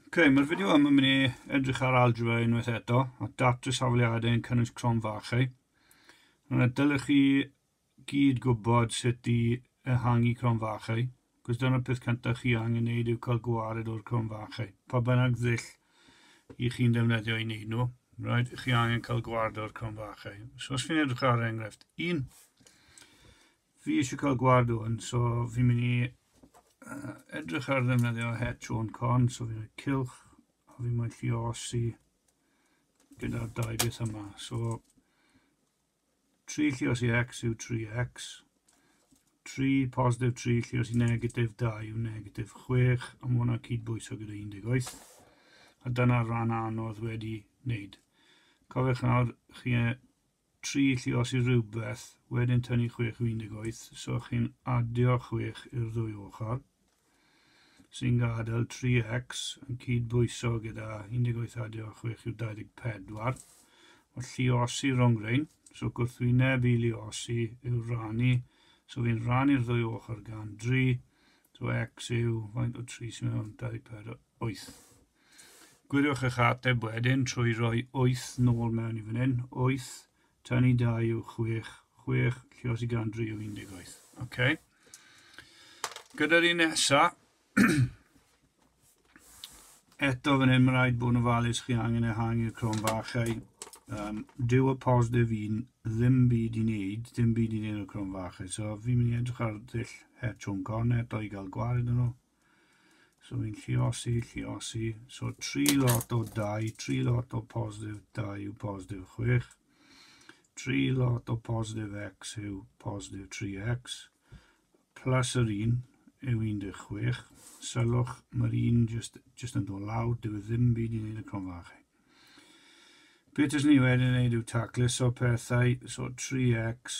Ok, mae'r fideo yma mynd i edrych ar algebra unwaith eto, a datrys hafliadau yn cynnwys crom fachau. Yna dylech chi gyd gwybod sut i ehangu crom fachau, cos dyna'r peth cyntaf chi angen wneud yw cael gwared o'r crom fachau, pa bynnag ddull i chi'n defnyddio i wneud nhw, right, chi angen cael gwared o'r crom fachau. So os fi'n edrych ar enghraifft 1, Fi eisiau cael gwad o'n, so fi'n mynd i uh, edrych ar ddefnyddio het o'n con, so fi'n rhaid cilch, a fi'n mynd i osi gyda'r dau beth yma. So, 3 llios i x yw 3x, 3 positif 3 llios i negatif 2 yw negatif 6, a mae hwnna'n cydbwyso gyda 18. A dyna'r rhan anodd wedi wneud. Cofiwch nawr, chi tri llios i rywbeth, wedyn tynnu chwech o 18, so chi'n adio chwech i'r ddwy ochr, sy'n gadael 3x yn cyd-bwyso gyda 18 adio chwech yw 24, o lliosi rhwng rhain, so gwrthwyneb i liosi yw rannu, so fi'n rannu'r ddwy ochr gan dri, so x yw faint o tri sy'n mewn 24, wyth. Gwiriwch eich ateb wedyn trwy roi 'wyth' nôl mewn i fan hyn, 'wyth', tan i 2 yw 6, 6, lle os i gan 3 yw 18. Ok. Gyda'r un nesa, eto fan hyn mae'n rhaid bod yn ofalus chi angen ehangu'r crom fachau. Um, dyw y positif un ddim byd i wneud, ddim byd i wneud o'r crom fachau. So fi'n mynd i edrych ar ddull het o'n corn eto i gael gwared yn nhw. So fi'n lliosi, lliosi. So tri lot o dau, tri lot o positif dau yw positif chwech. Tri lot o positif x yw positif 3x. Plus yr un yw 16. Sylwch, mae'r un just, just yn dod lawr, dyw e ddim byd i wneud y cronfa chi. Beth ys ni wedyn wneud yw tacluso pethau, so 3x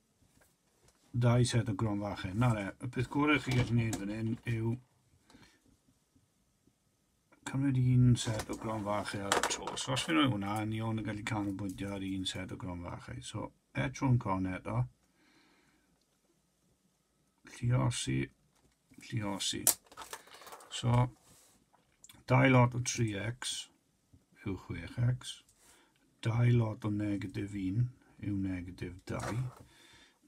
Dau set o grom fach hyn. Na re, y peth gorau chi gallu gwneud fan hyn yw cymryd un set o grom fach ar y tro. So os fi'n rhoi hwnna, ni ond yn gallu canolbwyntio ar un set o grom fach ei. So etro'n con eto. Lliosi, lliosi. So, dau lot o 3x. yw chwech ecs. Dau lot o negatif un yw negatif dau.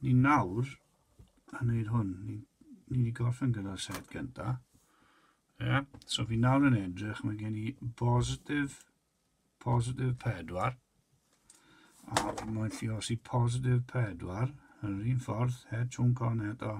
Ni nawr yn gwneud hwn. Ni, ni wedi gorffen gyda'r set gyntaf. Yeah. So fi nawr yn edrych, mae gen i bositif, positif pedwar, a mae'n lli os i positif pedwar, yn yr un ffordd, het chwn con eto,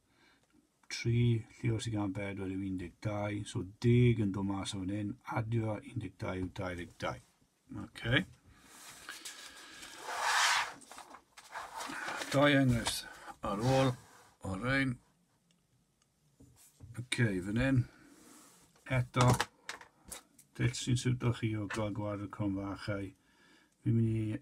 3, lle os i gan 4 yw 12, so deg yn dod mas o fan hyn, adio 12 yw 22. Okay. Dau enghraifft ar ôl o rein. Okay, fan hyn, eto, dell sy'n siwto chi o gael gwared y cronfachau. Fi'n mynd i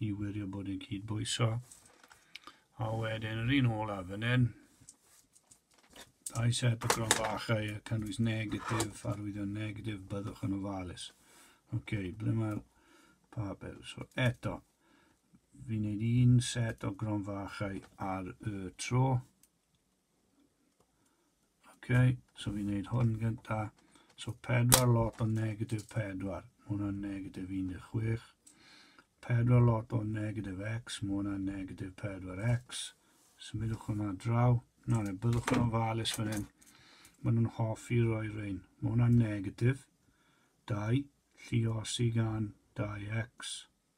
i wirio bod yn cydbwyso. A wedyn yr un olaf yn un, dau set o gron bachau a cynnwys negatif, arwyddion negatif, byddwch yn ofalus. Oce, okay, ble mae'r papur? So eto, fi'n neud un set o gron fachau ar y tro. Okay, so fi'n neud hwn gynta. So pedwar lot o negatif pedwar, mae hwnna'n negatif 16. Pedwar lot o negatif x, mae hwnna'n negatif 4x. Symudwch hwnna draw. Na, neu byddwch yn ofalus fan hyn. Mae nhw'n hoffi roi rhain. Mae hwnna'n negatif 2, lliosi gan 2x.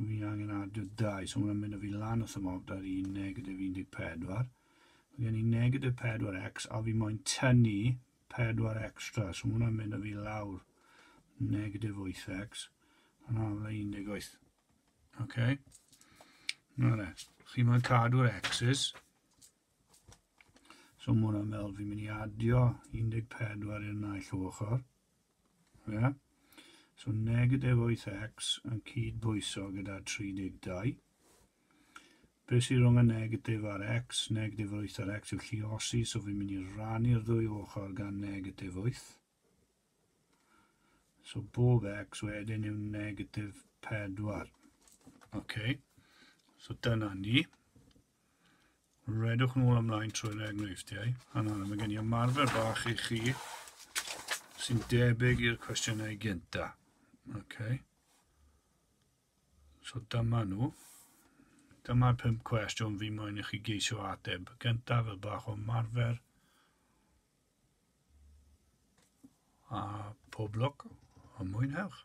Fi angen adio dau, so mae'n mynd o fi lan wrth y mob, da fi negatif 14. Mae gen i negatif 4x, a fi moyn tynnu 4 extra, so mae'n mynd o fi lawr negatif 8x, yn amla 18. OK? Na le, chi moyn cadw'r x's, so mae'n meddwl fi'n mynd i adio 14 i'r naill ochr, Ie. So negatif 8x yn cyd-bwyso gyda 32. Be sy'n rhwng y negatif a'r x? Negatif 8 a'r x yw lliosi, so fi'n mynd i rannu'r ddwy ochr gan negatif 8. So bob x wedyn yw negatif 4. OK. So dyna ni. Redwch nôl ymlaen trwy'r enghreifftiau. A nawr, mae gen i ymarfer bach i chi sy'n debyg i'r cwestiynau gynta. Okay. So dyma nhw. Dyma'r pum cwestiwn fi moyn i chi geisio ateb. Gyntaf y bach o marfer. A pob lwc a mwynhewch.